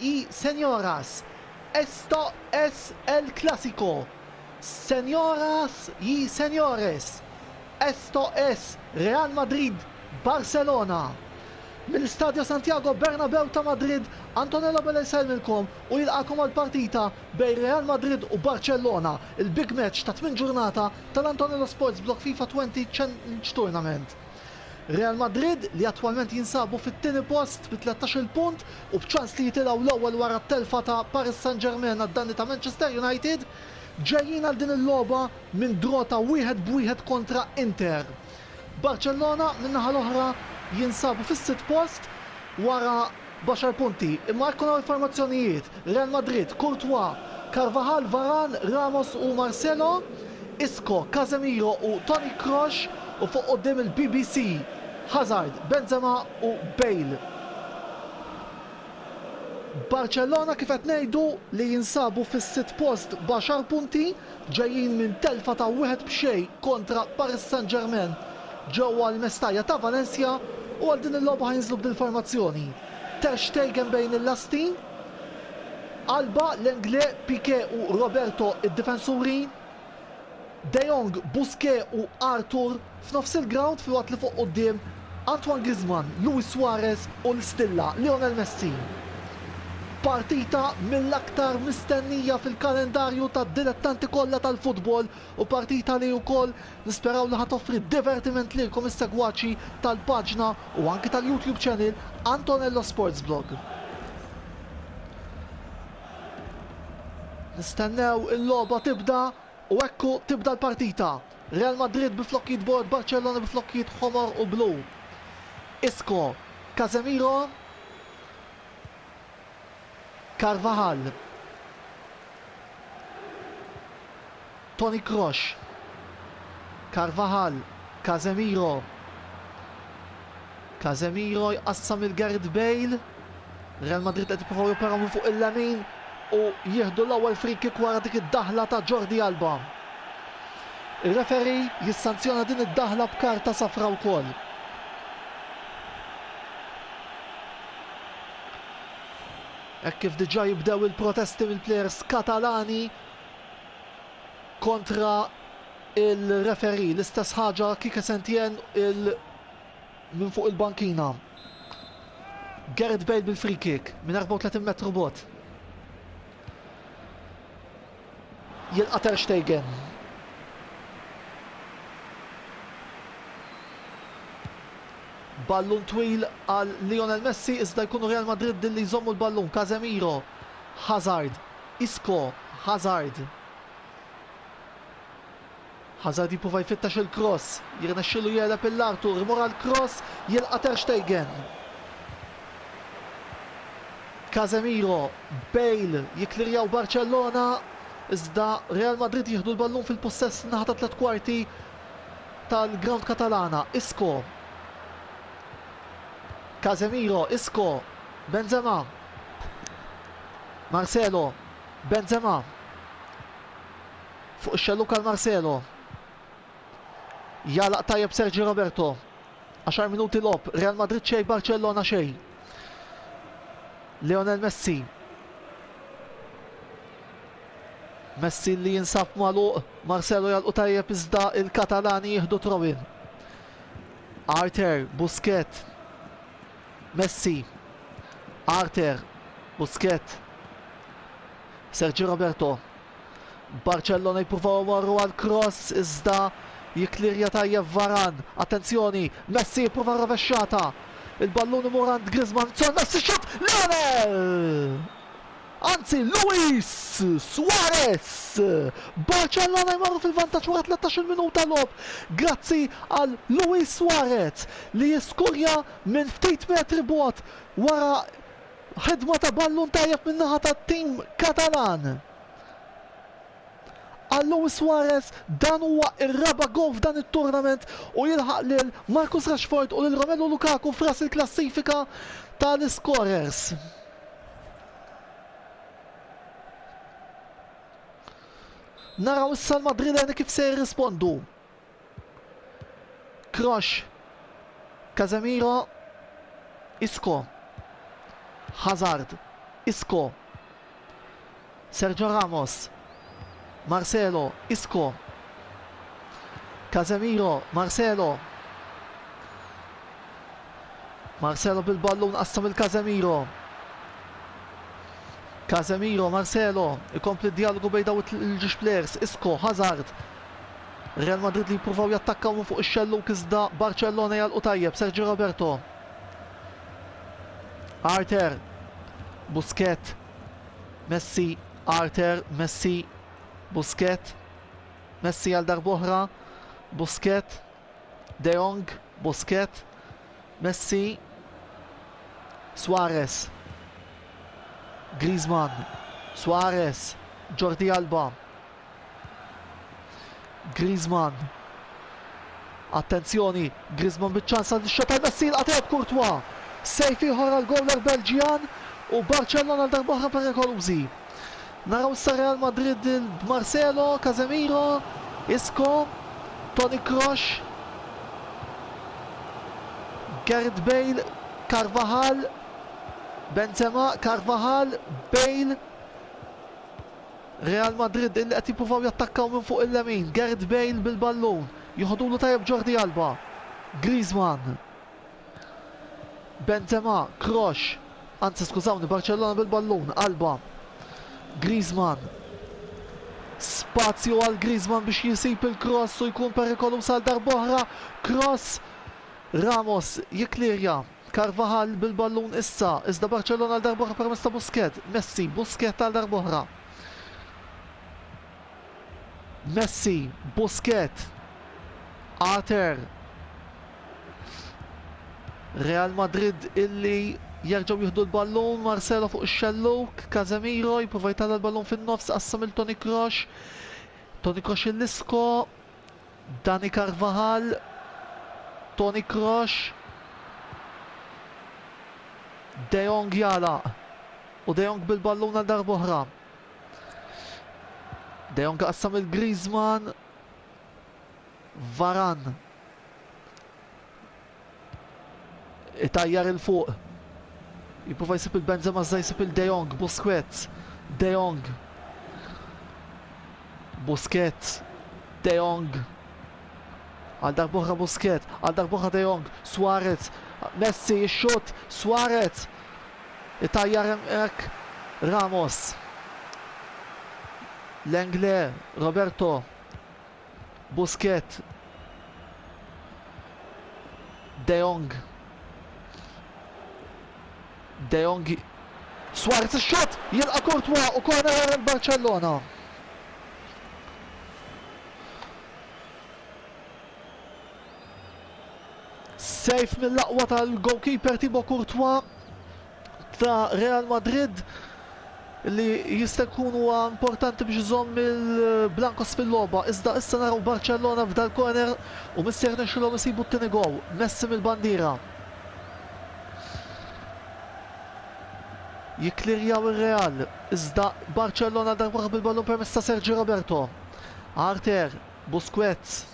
Y señoras, esto es el clásico, Senjoras y senjores, esto es Real Madrid, Barcelona! Mill-Istadio Santiago Bernabeu ta' Madrid, Antonello Bella jsellmilkom u jilqagħkom għall-partita bejn Real Madrid u Barcellona, il-big match tat-tmien ġurnata tal-Antonello Sports Blog FIFA Twenty Challenge Tournament. Real Madrid, li attwalment jinsabu fit-tieni post bi tlettax-il punt u b'ċans li jitilgħu l-ewwel wara t-telfa ta' Paris Saint-Germain għad-danni ta' Manchester United, ġejjin għal din il-logħba minn draw ta' wieħed b'wieħed kontra Inter. Barcellona, min-naħa l-oħra, jinsabu fis-sitt post wara, B'għaxar punti, imma jekk naraw il-formazzjonijiet, Real Madrid, Courtois, Carvajal, Varane, Ramos u Marcelo, Isco, Casemiro u Toni Kroos u fuq quddiem il-BBC, Hazard, Benzema u Bale. Barċellona kif qed ngħidu li jinsabu fis-sitt post b'għaxar punti, ġejjin minn telfa ta' wieħed b'xejn kontra Paris Saint-Germain ġewwa l-Mestalla ta' Valencia u għal din il-logħba ħa jinżlu b'din il-formazzjoni, Ter Stegen bejn il-lasti, Alba, Lenglet, Piqué u Roberto id-difensuri, De Jong, Busquets u Arthur. F'nofs il-grawnd filwaqt li fuq quddiem, Antoine Griezmann, Luis Suarez u l-stilla, Lionel Messi. Partita mill-aktar mistennija fil-kalendarju tad-dilettanti kollha tal-futbol u partita li wkoll nisperaw li ħa toffri divertiment lilkom is-segwaċi tal-paġna u anki tal-YouTube channel Antonello Sports Blog. Nistennew il-logħba tibda u ekku tibda l-partita. Real Madrid bi flokkijiet bord, Barcellona bi flokkijiet ħomor u blu. Isco, Casemiro, Carvajal, Toni Kroos, Carvajal, Casemiro, Casemiro jqassam lil Gareth Bale. Real Madrid qed jippruvaw joperaw minn fuq il-lemin u jieħdu l-ewwel free kick wara dik id-daħla ta' Jordi Alba. Ir-referi jissanzjona din id-daħla b'karta safra wkoll. Hekk kif diġà jibdew il-protesti mill-plejers Katalani kontra il-referi. L-istess ħaġa Kike Sentjen il- Minn fuq il-bankina, Gareth Bale bil-freekick minn 34 metru bogħod. Jilqa' Ter Stegen. Ballun twil għal Lionel Messi iżda jkunu Real Madrid li jżommu l-ballun. Casemiro, Hazard, Isco, Hazard. Hazard jipruva jfittex il-kross, jirnexxielu jegħleb il Arthur, imur għall-kross, jilqa' Ter Stegen. Casemiro, Bale, jikklirjaw Barcellona, iżda Real Madrid jieħdu l-ballun fil-pussess min-naħa tat-tliet kwarti tal-grawnd Katalana. Isco. Casemiro, Isco, Benzema. Marcelo, Benzema. Fuq ix-xellug għal Marcelo. Jagħlaq tajjeb Sergi Roberto. 10 minuti logħob, Real Madrid xejn, Barcellona xejn. Lionel Messi. Messi li jinsab magħluq, Marcelo jalqu tajjeb iżda il-Katalani jieħdu trowin. Arter, Busket, Messi, Arter, Busket, Sergi Roberto, Barcellona jippruvaw imorru għal cross iżda jikklirja tajjeb Varan. Attenzjoni, Messi jipprova r-rovexxata. Il-ballun imur għand Griezmann, Son Messi xutt Lionel! Anzi, Luis Suarez! Barcellona jmorru fil-vantaġġ wara 13-il minuta logħob grazzi għal Luis Suarez li jiskurja minn ftit metri bogħod wara Ħidma ta' ballun tajjeb min-naħa tat-tim Katalan. Għal Luis Suarez dan huwa r-raba' gowl f'dan it-turnament u jilħaq lil Marcus Rashford u lil Romelu Lukaku f'ras il-klassifika tal-iskorers. Naraw issa l-Madrileni kif se jirrispondu. Kroos, Casemiro, Isco, Hazard, Isco, Sergio Ramos, Marcelo, Isco, Casemiro, Marcelo, Marcelo bil-ballun qassam il-Casemiro. Casemiro, Marcelo, ikompli d-dialogu bejn daw il-ġiex players, Isco, Hazard, Real Madrid li jippruvaw jattakkaw minn fuq ix-xellug iżda Barcellona jagħlqu tajjeb, Sergi Roberto. Arthur, Busquets, Messi, Arthur, Messi, Busquets, Messi għal darb'oħra, Busquets, De Jong, Busquets, Messi, Suarez, Griezmann, Suarez, Jordi Alba, Griezmann. Attenzjoni, Griezmann biċ-ċans għal xota tajba ssir qatet Courtois. Sejf ieħor għal gowler Belġjan u Barcellona għal darba oħra perikolużi. Naraw issa Real Madrid b'Marcelo, Casemiro, Isco, Toni Kroos, Gareth Bale, Carvajal, Benzema, Carvajal, Bale, Real Madrid illi qed jippruvaw jattakkaw minn fuq il-lemin, Gareth Bale bil-ballun, joħodulu tajjeb Jordi Alba, Griezmann, Benzema, Kroos, anzi skużawni Barcellona bil-ballun, Alba, Griezmann, spazju għal Griezmann biex jsib il-kross u jkun perikoluż għal darb'oħra, kross, Ramos jikklirja. Carvajal bil-ballun issa, iżda Barcellona għal darb'oħra permezz ta' Busquet, Messi, Busquet għal darb'oħra. Messi, Busquet, Ater. Real Madrid illi jerġgħu jieħdu l-ballun, Marcelo fuq ix-xelluk, Casemiro jipprova jtalla l-ballun fin-nofs qassam il Toni Kroos. Toni Kroos il-Isco, Dani Carvajal, Toni Kroos, De Jong jagħlaq u De Jong bil-ballun għal darb'oħra. De Jong qassam il Griezmann, Varan Itajjar il fuq. Jipprova jsib il-Benzema iżda jsib il-De Jong, Busquets, De Jong. Busquets, De Jong. Għal darbohra Busquets, għal darbohra De Jong, Suarez, Messi jixxut, Suarez. Itajjar hemmhekk Ramos. Lengle, Roberto, Busquets. De Jong. De Jong. Suarez ix-xott jilqa' Courtois u corner għal Barcellona. Sejf mill-aqwa tal-goalkeeper Thibaut Courtois ta' Real Madrid li jista' jkun huwa importanti biex iżomm il-Blancos fil-logħba, iżda issa naraw Barcellona f'dal corner u miss jirnexxilhom isibu t-tieni gowl, Messi mill-bandiera. Jikklirjaw ir-Real, iżda Barcellona darba bil-ballun permezz ta' Sergi Roberto. Arter, Busquets.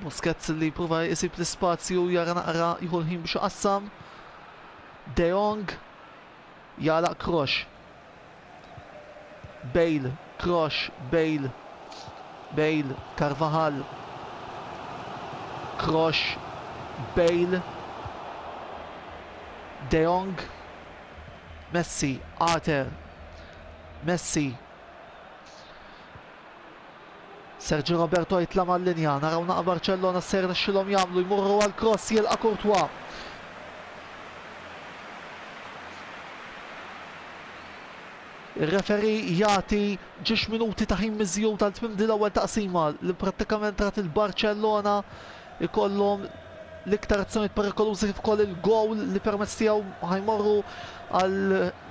Busquets li jipprova jsib l-ispazju, jara naqra, jieħu l-ħin biex iqassam. De Jong jagħlaq Kroos. Bale, Kroos, Bale, Bale, Carvajal. Kroos, Bale. De Jong, Messi, Ater, Messi. Sergio Roberto jitla' mal-linja, naraw naqa' Barcellona x'se jirnexxilhom jagħmlu, jmorru għal cross jilqa' Courtois. Ir-referi jagħti ġiex minuti ta' ħin miżjud għal tmim din l-ewwel taqsima li prattikament rat il-Barcellona ikollhom l-iktar azzjonijiet perikolużi kif ukoll il-gowl li permezz tiegħu ħajmorru għal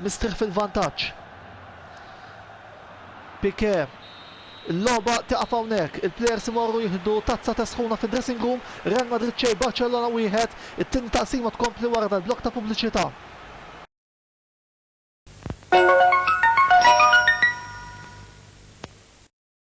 mistrieħ fil-vantaġġ. Piqué, Il-logħba tieqaf hawnhekk, il-plejers imorru jieħdu tazza te sħuna fid-dressing room, Real Madrid xejn Barcellona wieħed, it-tieni taqsima tkompli wara dal-blokk ta' pubbliċità.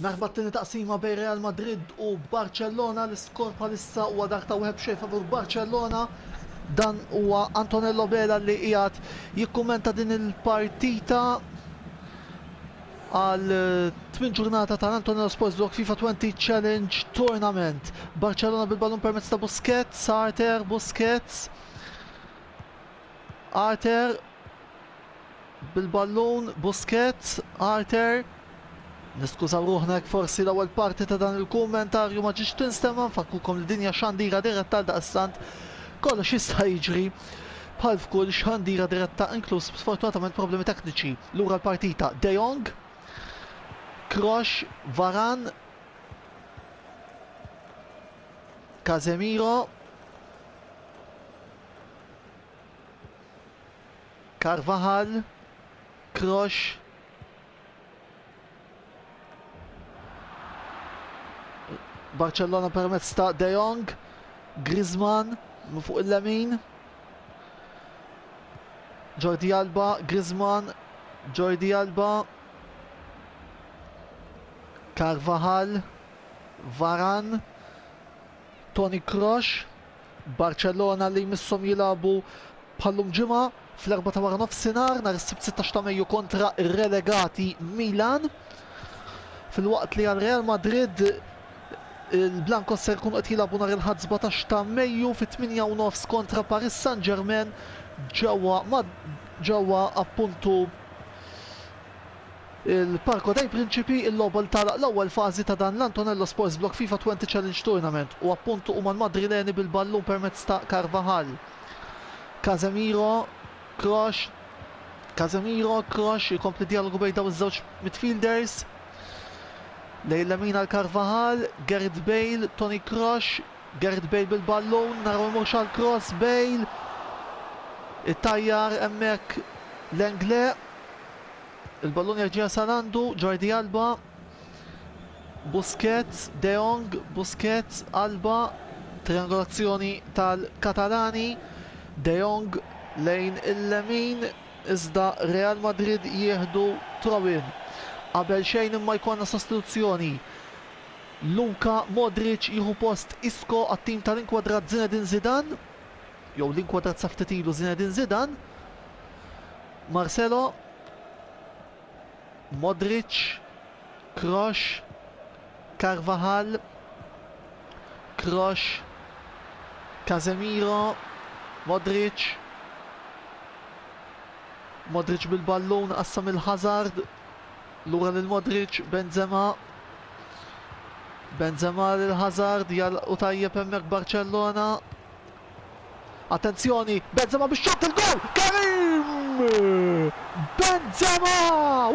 Minħabba t-tieni taqsima bejn Real Madrid u Barcellona, l-iskor bħalissa huwa dak ta' wieħed b'xejn favur Barcellona. Dan huwa Antonello Vela li qiegħed jikkummenta din il-partita għal tmien ġurnata ta' Antonello Sports Blog FIFA 20 Challenge Tournament. Barcellona bil-ballun permezz ta' Busquets, Arter, Busquets, Arter, Bil-ballun, Busquets, Arthur, Niskużaw ruħna jekk forsi l-ewwel parti ta' dan il-kummentarju ma ġietx tinstema' nfakkukom li din hija xandira diretta għal daqstant kollox jista' jiġri bħal f'kull xandira diretta inkluż sfortunatament problemi tekniċi. Lura l-partita De Jong, Krosh, Varan, Casemiro, Carvajal, Kroos, Barcellona permezz ta' De Jong, Griezmann fuq il-lemin, Jordi Alba, Griezmann, Jordi Alba, Carvajal, Varan, Toni Kroos, Barċellona li jmisshom jilagħbu bħal-lum Ġimgħa fl-erbgħa ta' waranofsinhar nhar is-Sibt 16 ta' Mejju kontra r-relegati Milan. Filwaqt li għal Real Madrid il-Blancos se jkunu qed jilagħbu nhar il-Ħadd 17 ta' Mejju fit-8 u nofs kontra Paris Saint-Germain ġewwa ġewwa appuntu Il-Parco dei Principi, il-logħba li tagħlaq l-ewwel fażi ta' dan l-Antonello Sports Block FIFA Twenty Challenge Tournament u appuntu huma l-Madrileni bil-ballun permezz ta' Carvajal. Casemiro, Kroos, Casemiro, Kroos, ikompli djalogu bejn dawn iż-żewġ midfielders. Lejn lemin għal Carvajal, Gareth Bale, Toni Kroos, Gareth Bale bil-ballun, naraw imurx għal Kroos, Bale, ittajjar hemmhekk l-Engle, Il-ballun jerġa' jasal għandu Jordi Alba. Busquets, De Jong, Busquets, Alba, triangolazzjoni tal-Katalani. De Jong lejn il-lemin, iżda Real Madrid jieħdu throw-in. Qabel xejn imma jkollna sostituzzjoni. Luka Modric jieħu post Isco għat-tim tal-inkwadrat Zinedine Zidane, jew l-inkwadrat sa ftit ilu Zinedine Zidane. Marcelo, Modric, Kroos, Carvajal, Kroos, Casemiro, Modric, Modric bil-ballun qassam il-Hazard, lura lil Modric, Benzema, Benzema lil Hazard, jal u tajjeb hemmhekk Barcellona, Attenzjoni, Benzema bix-xott il-goal! Karim! Benzema!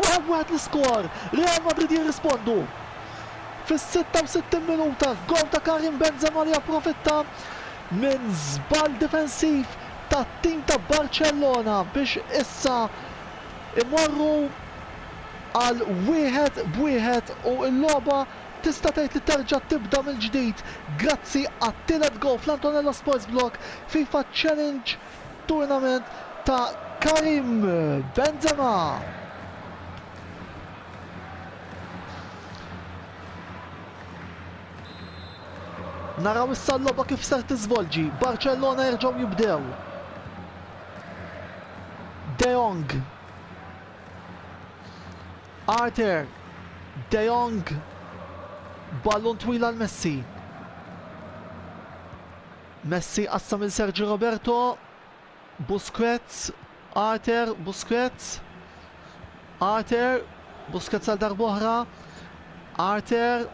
Wieħed wieħed l-iskor, Real Madrid jirrispondu fis-66 minuta f'goal ta' Karim Benzema li approfitta minn żball difensiv tat-tim ta' Barcellona biex issa imorru għal wieħed b'wieħed u l-logħba Tista' tgħid li terġa' tibda mill-ġdid grazzi għat-tielet gowl fl-Antonello Sports Blog FIFA Challenge Tournament ta' Karim Benzema. Naraw issa l-logħba kif ser tiżvolġi. Barcellona jerġgħu jibdew. De Jong. Arthur, De Jong, ballun twil għal Messi. Messi qassam il Sergio Roberto, Busquets, Arthur, Busquets, Arthur, Busquets għal darboħra, Arthur,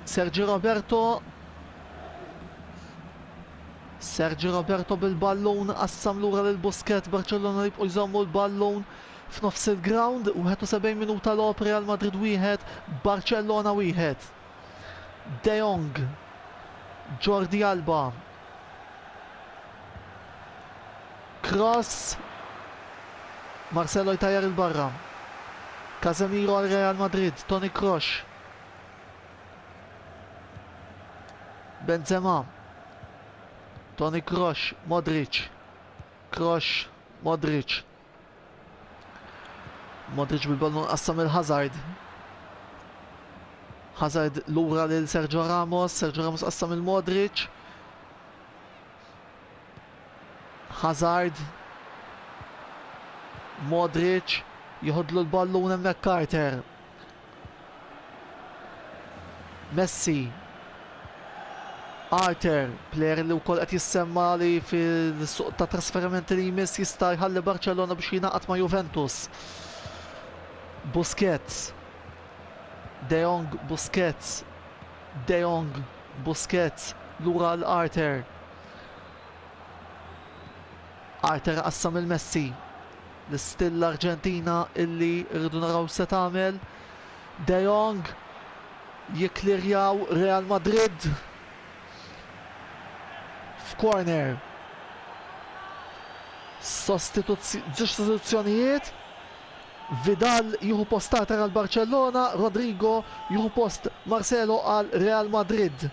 Sergio Roberto, Sergio Roberto bil-ballun qassam lura lil Busquets Barcellona jibqgħu jżommu l-ballun F'nofs il-grawnd, 71 minuta logħob Real Madrid wieħed, Barcellona wieħed. De Jong, Jordi Alba, Cross, Marcelo jtajjar il-barra. Casemiro għal Real Madrid, Toni Kroos. Benzema, Toni Kroos, Modric, Kroos, Modric, Modric bil-ballun qassam il-Hazard. Hazard lura lil Sergio Ramos, Sergio Ramos qassam il-Modric. Hazard. Modric jħodlu l-ballun hemmhekk Carter. Messi. Arthur, player li wkoll qed jissemma li fil-suq ta' trasferimenti li jmiss jista' jħalli Barcellona biex jingħaqad ma' Juventus. Busquets. De Jong Busquets. De Jong Busquets lura l-Arthur. Arter qassam lil Messi. L-istil l-Arġentina illi rridu naraw se tagħmel. De Jong jikklirjaw Real Madrid f'corner. Żewġ sostituzzjonijiet. Vidal jieħu post Arter għal Barcellona, Rodrigo jieħu post Marcelo għal Real Madrid.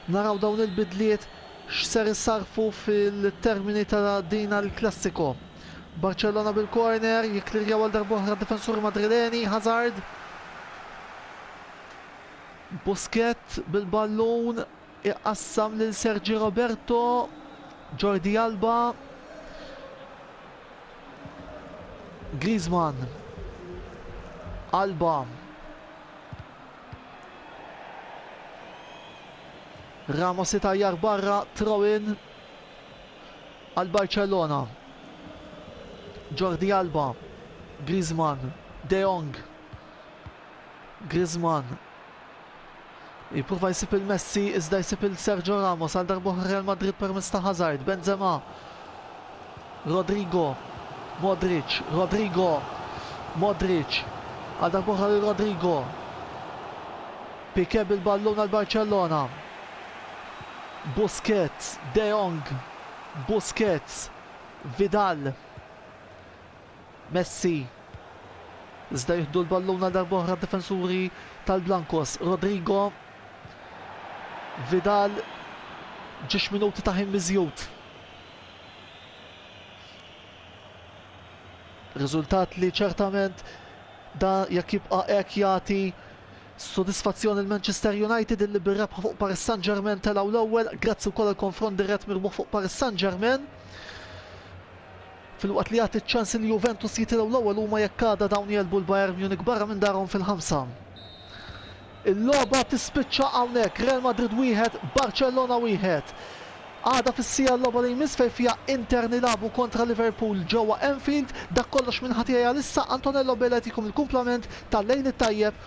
Naraw dawn il-bidliet x'ser isarrfu fil-termini ta' din El Clasico. Barcellona bil-corner, jikklirjaw għal darb'oħra d-difensuri Madrileni, Hazard. Busquets bil-ballun, iqassam lil Sergi Roberto, Jordi Alba. Griezmann, Alba. Ramos itajjar barra throw-in għal Barcellona. Jordi Alba, Griezmann, De Jong. Griezmann jipprova jsib il-Messi iżda jsib il-Sergio Ramos għal darbohra Real Madrid permezz ta' Hazard, Benzema. Rodrygo, Modric, Rodrygo, Modric, għal darb'oħra lil Rodrygo. Piqué bil-ballun għal Barcellona. Busquets, De Jong, Busquets, Vidal, Messi. Iżda jieħdu l-ballun għal darb'oħra d-difensuri tal-Blancos. Rodrygo, Vidal, ġiex minuti ta' ħin miżjud. Riżultat li ċertament da jekk jibqa' hekk jagħti sodisfazzjon lil Manchester United illi bir-rebħa fuq Paris Saint-Germain telgħu l-ewwel grazzi wkoll għal konfront dirett mirbuħ fuq Paris Saint-Germain. Filwaqt li jagħti ċ-ċans il Juventus jitilgħu l-ewwel huma jekk għada dawn jgħelbu l-Bayern Munich barra minn darhom fil-ħamsa. Il-logħba tispiċċa hawnhekk, Real Madrid wieħed, Barcellona wieħed. Għada fis-siegħa l-logħba li jmiss fejn fiha Inter nilagħbu kontra Liverpool ġewwa Anfield. Dak kollox minn ħa tiegħi għalissa, Antonello Bela jtikom il-kumplament tal-Lejl it-Tajjeb.